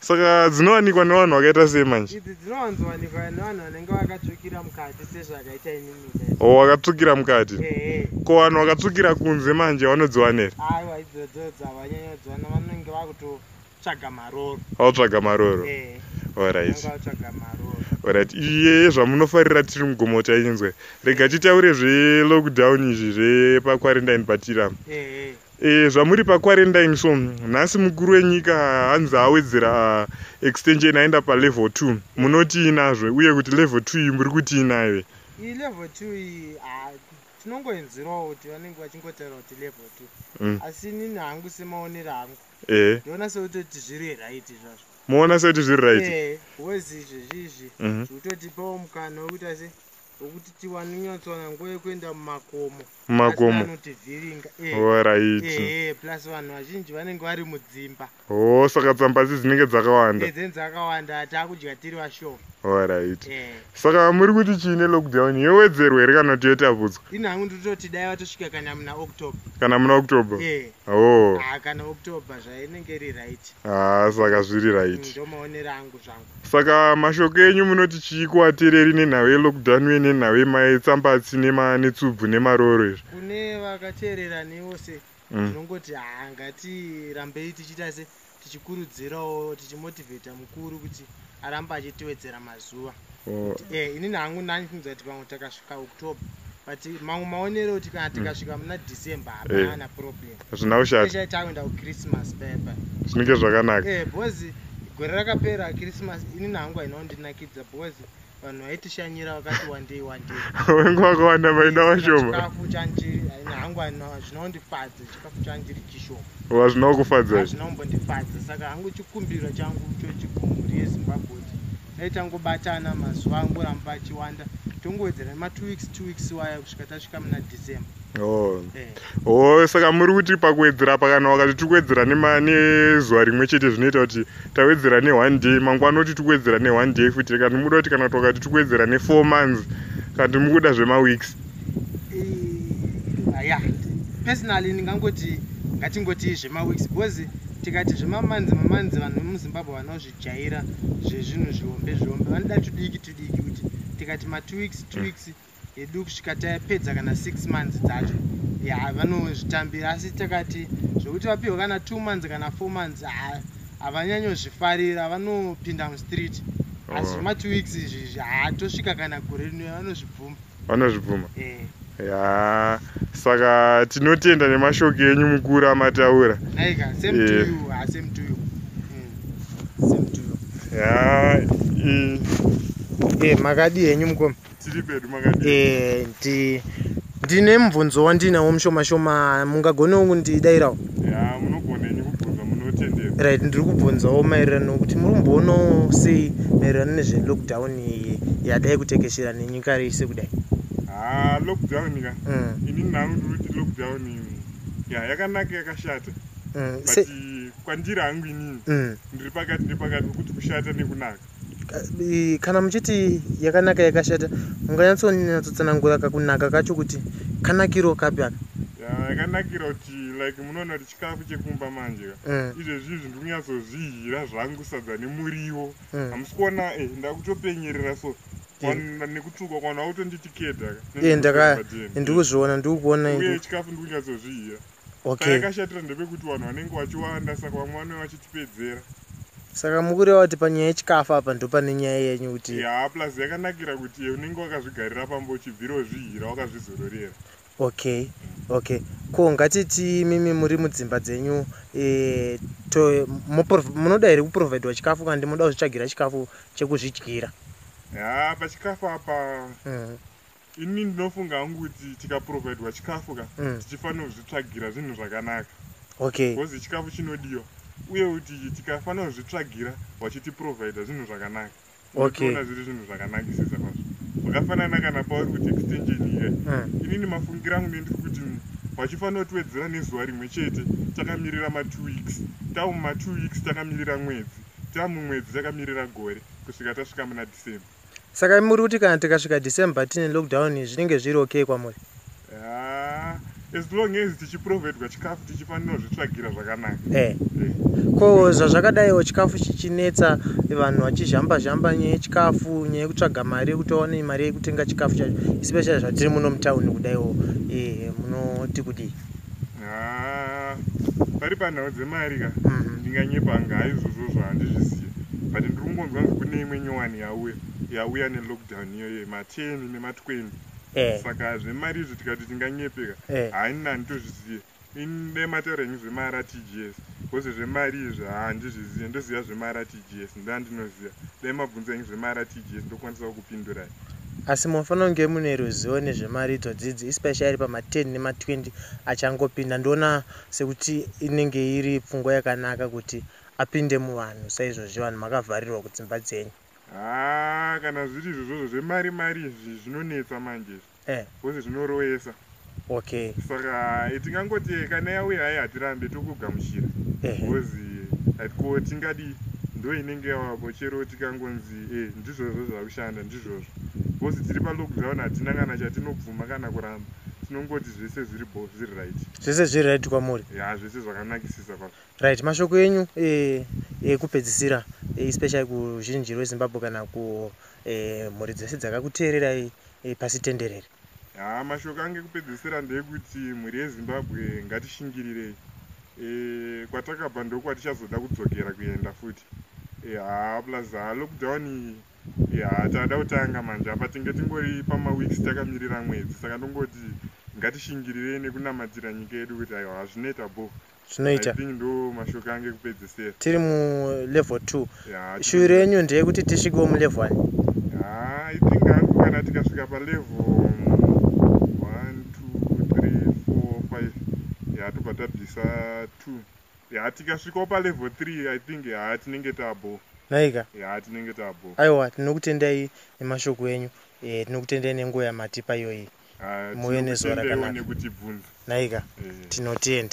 saka dzinowanikwa nevanhu vakaita sei manje idzi dzinowanzowanikwa nevanhu vanenge vakatsvukira mukati sezvakaita inini o oh, vakatsvukira mukati ko vanhu vakatsvukira kunze manje vanodziwanera aiwa idzodzo dzavanyanyodziwana vanenge vakutotsvaga maroro vakutsvaga maroro orit orit iye zvamunofarira tiri mugomo tainzwe rega titaure zvelockdown izvi zvepaquarantine patirama E, zvamuri paquarantine so nhasi mukuru wenyika hanzi awedzera extension aenda palevel 2 munotii nazvo uye kuti level 2 iyi muri kutii nayo iyi level 2 iyi tinongoenzerawo kuti vanenge vachingotaura kuti level 2 mm. asi inini hangu semaonero angu e. ndiona e. sekutoti zviri right zvazvo moona sekuti zviri right e, wezi izvezvi izvi zvikutotipawo mhm. mukana wekuti asi okuti tiwane nyatsowana nguva yekuenda mumakomo mumakomo anotivhiringa eh, orit eh, eh, plus vanhu vazhinji vanenge vari mudzimba o oh, saka tsamba dzi dzinenge dzakawanda eh, dzeni dzakawanda taakudya tiri vashoma orit eh. saka muri kuti chii nelockdown yowedzerwa here kana kuti yotapudzwa ini hangu nditoti dai vatosvika kana muna october kana muna october eh. o oh. ah, kana october zvainenge iri right haa ah, saka zviri right mm, ndomaonera angu zvangu Saka mashoko enyu munoti chii kuatereri nenhau yelockdown uye nenhau yemaetsambatsi netsubvu nemarooro izvi? Kune vakateerera newo se mm. tinongoti mm. haa ngatirambei tichiita se tichikurudzirawo tichimotivheta mukuru kuti arambe achitiwedzera mazuva oh. kuti e eh, inini hangu nani tinoziva kuti pamwe takasvika october but mamwe maonero kuti kana mm. tikasvika muna december hapana eh. problem hazvina kushata zvinenge zvakanaka eh, gore rakapera christmas ini nangu hainawo ndinakidza because vanhu vaitishanyira vakati wandei wandei wengu vakawanda vaida vashoma chikafu chandiri hangu zvinondifadza chikafu chandiri chishoma wa zvinokufadza hazvinombondifadza saka hangu chikumbiro changu chochikumhuri yezimbabwe dai tangobatana mazuva angoramba achiwanda tongowedzera nematwo weeks two weeks waya kusvika tasvika muna december Oh. Eh. Oh, saka muri kuti pakuwedzera pakana wakati tiri kuwedzera nezuva rimwe chete zvinoita kuti tawedzera neone day mangwana oti tiri kuwedzera neone day futi kana muda kuti kana twakati tiri kuwedzera nefour months kana ti mukuda zvemaweeks eh, ya personally ndingangoti ngatingoti zvemaweeks because tikati zvemamanzi mamanzi vanhu vemuzimbabwe vanozvijaira zvezvinhu zvihombe zvihombe vanoda tudiki tudiki kuti tikati matwo weeks two weeks mm. yedu kusvika tapedza kana six months dzacho ya vanozvitambira asi takati zvekuti vapihwa kana two months kana four months havanyanyozvifarira vanopinda mustreet asi oh. matwo weeks izvi izvi haatosvika kana gore rino vanozvibvuma vanozvibvuma eh. ya saka tinotenda nemashoko enyu mukuru amataura aika same to eh. you ah, same to you hmm. same to you ya eh. makadii henyu mukoma tiri pedu makadii eh ndi ndine mubvunzo wandinawo mushoma shoma mungagone wo kundidairawo ya munogona ini kubvunza munotendera right ndiri kubvunzawo maererano kuti muri kumboonawo sei maererano nezvelockdown iyi yadai kutekeshera nenyika rese kudai ha lockdown ka mm. ini nangu ndiri kuti lockdown ya yakanaka yakashata mm. but kwandiri hangu inini mm. ndiri pakati nepakati wekuti kushata nekunaka kana muchiti yakanaka yakashata munganyatsonyatsotsonangura kakunaka kacho kuti kanakiro kapi aka yakanakira kuti like munoona kuti chikafu chekumba manje ka mm. izvezvi izvi ndiri kunyatsozvihira zvangu sadza nemuriwo mm. hamusi kuona e ndakutopenyerera so nekutsvuka kwana utonditi keda ka ndiri kuzviona ndiri kuona chikafu ndiri kunyatsozvihira okay. payakashatira ndepekuti vanhu vanenge vachiwanda saka vamwe vanenge vachitipedzera saka mukureva kuti panyaya yechikafu apa ndopane nyaya yenyu kuti ya plus yakanakira kuti iye unenge wakazvigarira pamba uchibvira wozvihira wakazvizororera okay okay ko ngatiti mimi muri mudzimba dzenyu e, to, munoda here kuprovhidwa chikafu kana ndimoda kuzvitsvagira chikafu chekuzvidyira ya pachikafu apa mm. Ini ndinofunga hangu kuti tikaprovidwa chikafu ka mm. tichifanira kuzvitsvagira zvinhu zvakanaka okay. because chikafu chinodiwa uye kuti tikafanira kuzvitsvagira vachitiprovidha zvinhu zvakanaka unotoona okay. zviri zvinhu zvakanakisisa kwazvo zvakafanana kana pauri kuti extension iye mm. inini mafungira angu nendiri kuti vachifanira kutiwedzera nezuva rimwe chete takamirira matwo weeks tava mumatwo weeks takamirira mwedzi tava mumwedzi takamirira gore kusvika tasvika muna december Saka imi muri kuti kana tikasvika December tine lockdown zvinenge zviri okay kwamuri? Ah, as long as tichiprovedwa chikafu tichifanira zvitsvagira zvakanaka. Eh. eh. Ko zvazvakadaiwo chikafu chichinetsa vanhu vachizhamba zhamba nyaya yechikafu nyaya yekutsvaga mari yekutaona mari yekutenga chikafu chacho especially zvatiri muno mutown kudaiwo eh, munoti kudii? Ah, pari panhau dzemari ka mhm. ndinganyepa anga haizvozvo zvahandizvisiye but ndiri kungonzwa nzi kune imwe nyowani yauya yauya nelockdown iyoyo mateni nematweni eh. saka zvemari izvi tikati tinganyepeka eh. haina handitozvizive inemataura henyu zvemaratgs bcause zvemari izvi handizvizive ndoziva zvemaratgs ndoandinoziva dai mabvunza henyu zvemaratgs ndokwanisa kukupindurai Asi munofanira kunge mune ruzivo nezvemari idzo dzidzi especially pama 10 nema 20 achangopinda ndoona sekuti inenge iri pfungwa yakanaka kuti apinde muvanhu saizvozvi vanhu makavharirwa kudzimba dzenyu. Haa kana zviri izvozvozvo zvemari mari izvi zvinonetsa manje izvi coz zvinoroyesa. okay saka eh, tingangoti eh, kana yauya hai hatirambe tokugamuchira because eh, ko tingadii ndo inenge yavako chero tikangonzi e ndizvozvo zvakushanda ndizvozvo bcause tiri palockdown hatina kana chatinobvuma kana kuramba tinongoti zvese zviri bo zviri right zvese zviri right kwamuri ya zvese zvakanakisisa pa right mashoko enyu ekupedzisira e, e, especially kuzhinji rwezimbabwe kana ku e, mhuri dzese dzakakuteererai e, pasi tenderere Haa mashoko ange kupedzesera ndeekuti mhuri yezimbabwe ngatishingirirei e, kwatakabva ndokwatichazoda kudzokera kuenda futi e, haa plus haa lockdown iyi e, haa taada kutanga manje apa tinge tingori pamaweeks takamirira mwedzi saka ndongoti ngatishingirirei nekunamatira nyika yedu kuti aiwa hazvineta bho zvinoita tiri mulevel 2 shuwi renyu ndeyekuti tisvikewo mulevel 1 tobva tabvisa 2 ya tikasvikawo palevel 3 i think ya tinenge tabo naika ya tinenge tabo aiwa tinokutendai nemashoko enyu e, tinokutendai nenguva yamatipa iyoyi muve nezuva rakanaka naika e. tinotenda